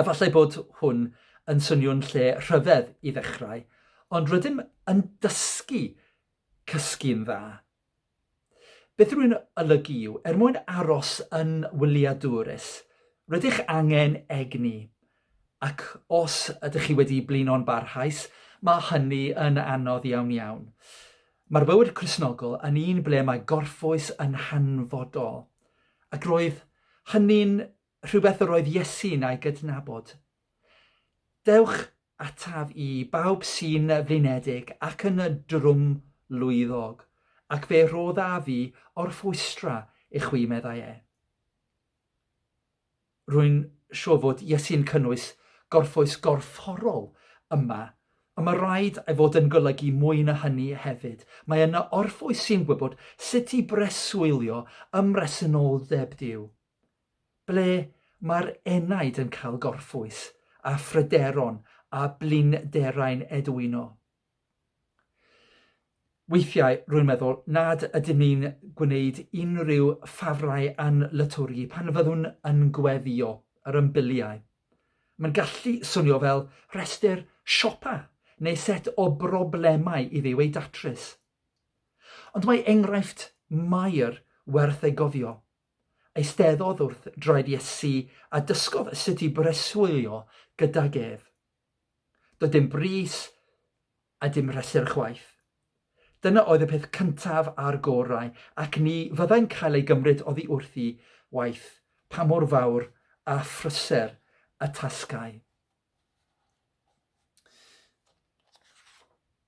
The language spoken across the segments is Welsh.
Efallai bod hwn yn swnio'n lle rhyfedd i ddechrau, ond rydym yn dysgu cysgu'n dda. Beth rwy'n olygu yw, er mwyn aros yn wyliadwrus, rydych angen egni, ac os ydych chi wedi blino'n barhaus, mae hynny yn anodd iawn iawn. Mae'r bywyd Crisnogol yn un ble mae gorffwys yn hanfodol, ac roedd hynny'n rhywbeth yr oedd Iesu'n ei gydnabod. Dewch ataf i, bawb sy'n flinedig ac yn drwmlwyddog, ac fe roddaf i orffwystra i chwi, meddai e. Rwy'n siŵr fod Iesu'n cynnwys gorffwys gorfforol yma, ond mae rhaid ei fod yn golygu mwy na hynny hefyd. Mae yna orffwys sy'n gwybod sut i breswylio ymhresynoldeb Duw. ble mae'r enaid yn cael gorffwys a phryderon a blinderau'n edwyno. Weithiau rwy'n meddwl nad ydym ni'n gwneud unrhyw ffafrau yn lytwrgi pan fyddwn yn gweddio yr ymbiliau. Mae'n gallu swnio fel rhestr siopa neu set o broblemau i Dduw eu datrys. Ond mae enghraifft Mair werth ei gofio. Eisteddodd wrth draed Iesu a dysgodd sut i breswylio gydag ef. Doedd dim bris a dim rhesur chwaith. Dyna oedd y peth cyntaf a'r gorau, ac ni fyddai'n cael ei gymryd oddi wrthi waith pa mor fawr a phryser y tasgau.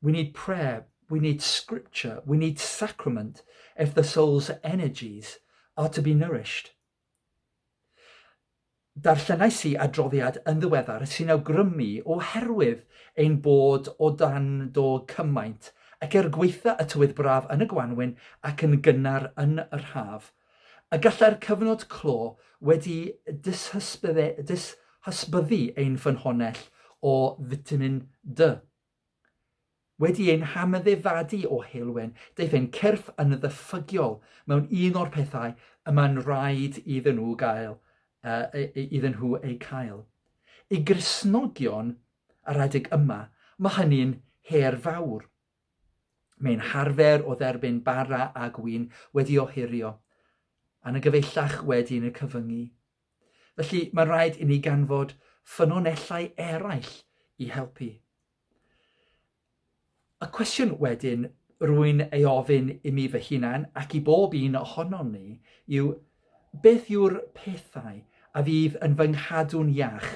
We need prayer, we need scripture, we need sacrament if the soul's energies are to be nourished. Darllenais i adroddiad yn ddiweddar sy'n awgrymu oherwydd ein bod o dan do cymaint ac er gweitha y tywydd braf yn y gwanwyn ac yn gynnar yn yr haf, a gallai'r cyfnod clo wedi dishysbyddu ein ffynhonnell o fitamin D. Wedi ein hameddefadu o heulwen, daeth ein cyrff yn ddyffygiol mewn un o'r pethau y mae'n rhaid iddyn nhw gael, uh, iddyn nhw eu cael. I Gristnogion yr adeg yma, mae hynny'n her fawr. Mae'n harfer o dderbyn bara a gwin wedi ohirio, yn y gyfeillach wedi yn y cyfyngu. Felly, mae'n rhaid i ni ganfod ffynonellau eraill i helpu. Y cwestiwn wedyn rwy'n ei ofyn i mi fy hunan ac i bob un ohonon ni yw beth yw'r pethau a fydd yn fy nghadw'n iach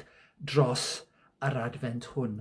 dros yr adfent hwn?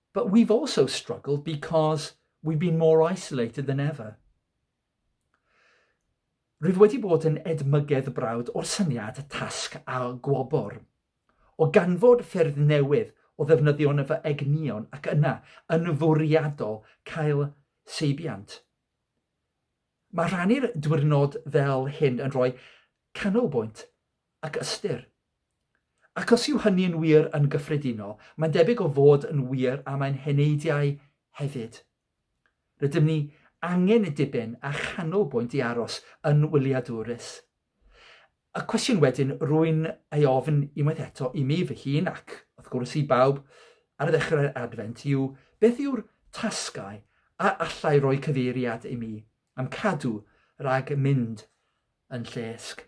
But we've also struggled because we've been more isolated than ever. Rwyf wedi bod yn edmygedd brawd o'r syniad tasg a gwobr. O ganfod ffyrdd newydd o ddefnyddio yn y fy egnion ac yna, yn fwriadol, cael seibiant. Mae rhannu'r diwrnod fel hyn yn rhoi canolbwynt ac ystyr. Ac os yw hynny'n wir yn gyffredinol, mae'n debyg o fod yn wir am ein heneidiau hefyd. Rydym ni angen y diben a chanolbwynt i aros yn wyliadwrus. Y cwestiwn wedyn rwy'n ei ofn unwaith eto i mi fy hun ac, wrth gwrs, i bawb ar ddechrau'r Adfent yw, beth yw'r tasgau a allai roi cyfeiriad i mi am cadw rhag mynd yn llesg?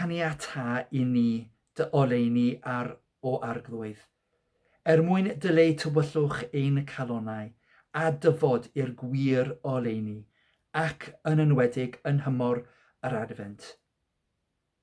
Caniata i ni dy oleuni ar o arglwydd, er mwyn dyleu tywyllwch ein calonau, a dyfod i'r gwir oleuni, ac yn enwedig yn nhymor yr Adfent.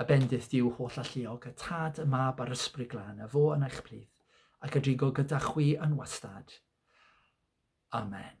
A bendith Duw holl alluog, y Tad, y Mab a'r Ysbryd Glân, a fo yn eich plith, ac a drigo gyda chwi yn wastad. Amen.